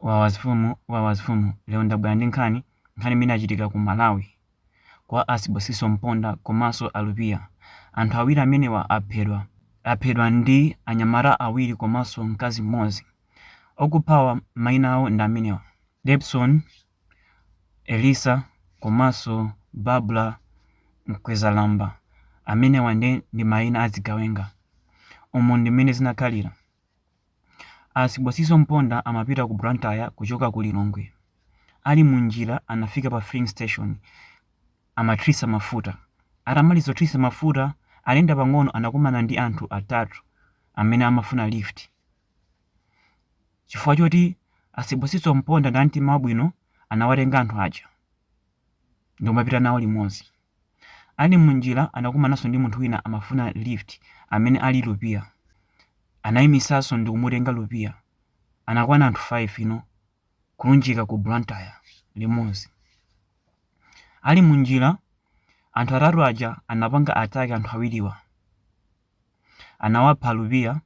Wawa zimfumu wawa zimfumu lero ndabwera ndi nkhani nkhani imene yachitika ku Malawi kwa a Sibosiso Mponda komanso a Lupiya. Anthu awiri amenewa aphedwa. Aphedwa ndi anyamata awiri komanso mkazi mmodzi. Okuphawa maina awo ndi amenewa, Debson Elisa komanso Babra Mkwezalamba. Amenewa nde ndi maina a zigawenga. Umu ndi mmene zinakhalira. A Sibosiso Mponda amapita ku Blantyre kuchoka ku Lilongwe. Ali mu njira anafika pa filling station amathirisa mafuta. Atamaliza kuthirisa mafuta, atayenda pang'ono anakumana ndi anthu atatu amene amafuna lift. Chifukwa choti a Sibosiso Mponda ndi a mtima wabwino anawatenga anthu aja ndi kumapita nawo limodzi. Ali munjila anakumananso ndi munthu wina amafuna lift amene ali Lupiya. Anaimisanso ndikumutenga Lupiya. Anakwana anthu 5 nde kulunjika ku Blantyre limodzi. Ali munjila anthu atatu aja anapanga attack anthu awiriwa. Anawapha Lupiya.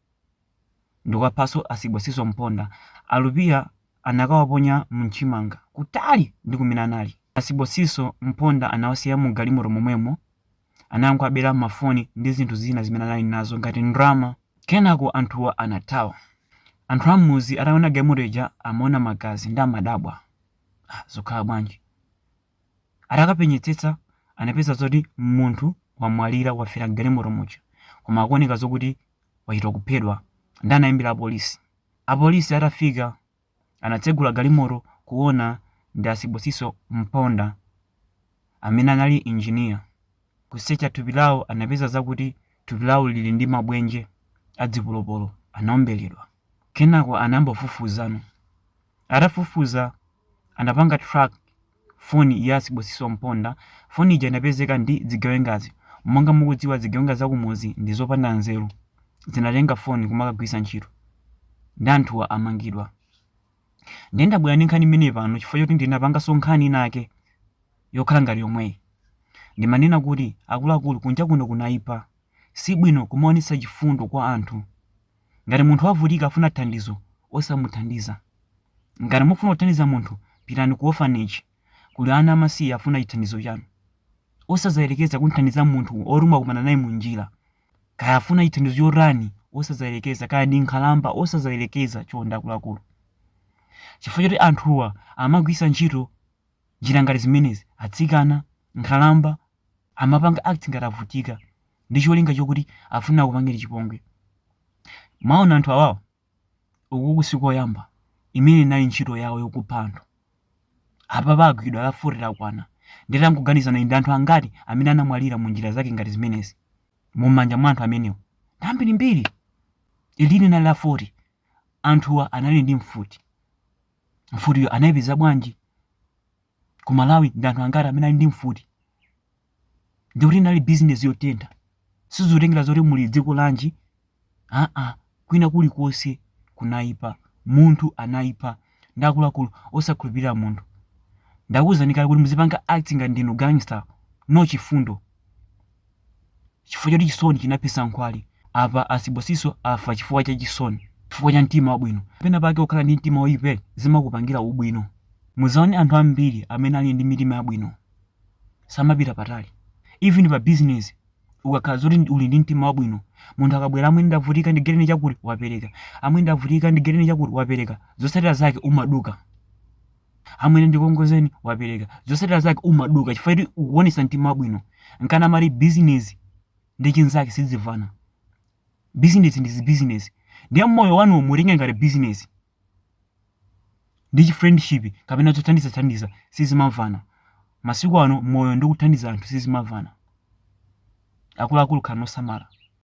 ndikuwaphaso a Sibosiso Mponda, a Lupiya anakawaponya mu nchimanga kutali ndi kumene anali. A Sibosiso Mponda anawasiya mu galimoto momwemo, anangowabera ma foni ndi zinthu zina zimene anali nazo ngati ndrama. Kenako anthuwa anathawa. Anthu a mmudzi atawona galimoto ija amaona magazi nde amadabwa, ah zukhala bwanji? Atakapenyetsetsa anapeza zoti munthu wamwalira wafera mgalimoto muja koma akuoneka zokuti wachita kuphedwa nde anayimbira apolisi. Apolisi atafika anatsegula galimoto kuona ndi a Sibosiso Mponda amene anali engineer. Kusecha thupi lawo anapeza zakuti thupi lawo lili ndi mabwenje a dzipolopolo anaombeledwa. Kenako anayamba kufufuzano. Atafufuza anapanga track foni ya Sibosiso Mponda. Foni ija inapezeka ndi zigawengazi. Monga mukudziwa zigawenga za kumudzi ndi zopanda nzeru. Zinatenga foni kumakagwiritsa ntchito. Ndi anthuwa amangidwa. Ndiye ndabwera ndi nkhani imeneyi pano chifukwa choti ndinapanganso nkhani inake yokhala ngati yomweyi. Ndimanena kuti akuluakulu kunja kuno kunaipa. Si bwino kumaonetsa chifundo kwa anthu. Ngati munthu wavutika afuna thandizo osamuthandiza. Ngati mukufuna kuthandiza munthu pitani ku orphanage. Kuli ana amasiye afuna chithandizo chanu. Osadzayerekeza kumthandiza munthu oti mwakumana naye munjira. Kaya afuna chithandizo chotani osadzayerekeza kaya ndi nkhalamba osadzayerekeza chonde akuluakulu. Chifukwa choti anthuwa amagwiritsa ntchito njira ngati zimenezi atsikana, nkhalamba amapanga act ngati avutika ndi cholinga chokuti afuna akupangeni chipongwe. Mwaona anthu awawa, ukuku si koyamba imene inali ntchito yawo yokupha anthu. Apapa agwidwa la 40 lakwana. Ndiye tangoganizani ndi anthu angati amene anamwalira mu njira zake ngati zimenezi mu manja mwa anthu amenewo. Ndi ambirimbiri. Ili linali la 40. Anthuwa anali ndi mfuti. Mfutiyo anayipeza bwanji? Ku Malawi ndi anthu angati amene ali ndi mfuti? ndi kuti inali bizinesi yotentha sizitengera zoti muli dziko lanji aa kwina kulikonse kunaipa munthu anaipa ndiye akuluakulu osakhulupirira munthu ndakuwuzani kale kuti muzipanga act ngati ndinu gangster no chifundo chifukwa choti chisoni chinaphetsa nkhwali apa a Sibusiso afa chifukwa cha chisoni chifukwa cha mtima wabwino pena pake kukhala ndi mtima woyipa zimakupangira ubwino muzaone anthu ambiri amene ali ndi mitima yabwino samapita patali even pa business ukakhala zoti ndi- uli ndi mtima wabwino munthu akabwera amwene ndavutika ndigaireni chakuti wapereka amwene ndavutika ndigaireni chakuti wapereka zotsatira zake umaduka amwene ndikongozeni wapereka zotsatira zake umaduka chifukwa kuti ukuonesa mtima wabwino nchifukwa amati business ndi chinzake sizimvana business ndi business ndiye moyo wanu muutenge ngati business ndi chifriendship kapena zothandizathandiza sizimamvana masiku ano moyo ndi kuthandiza anthu sizimamvana akuluakulu khalani osamala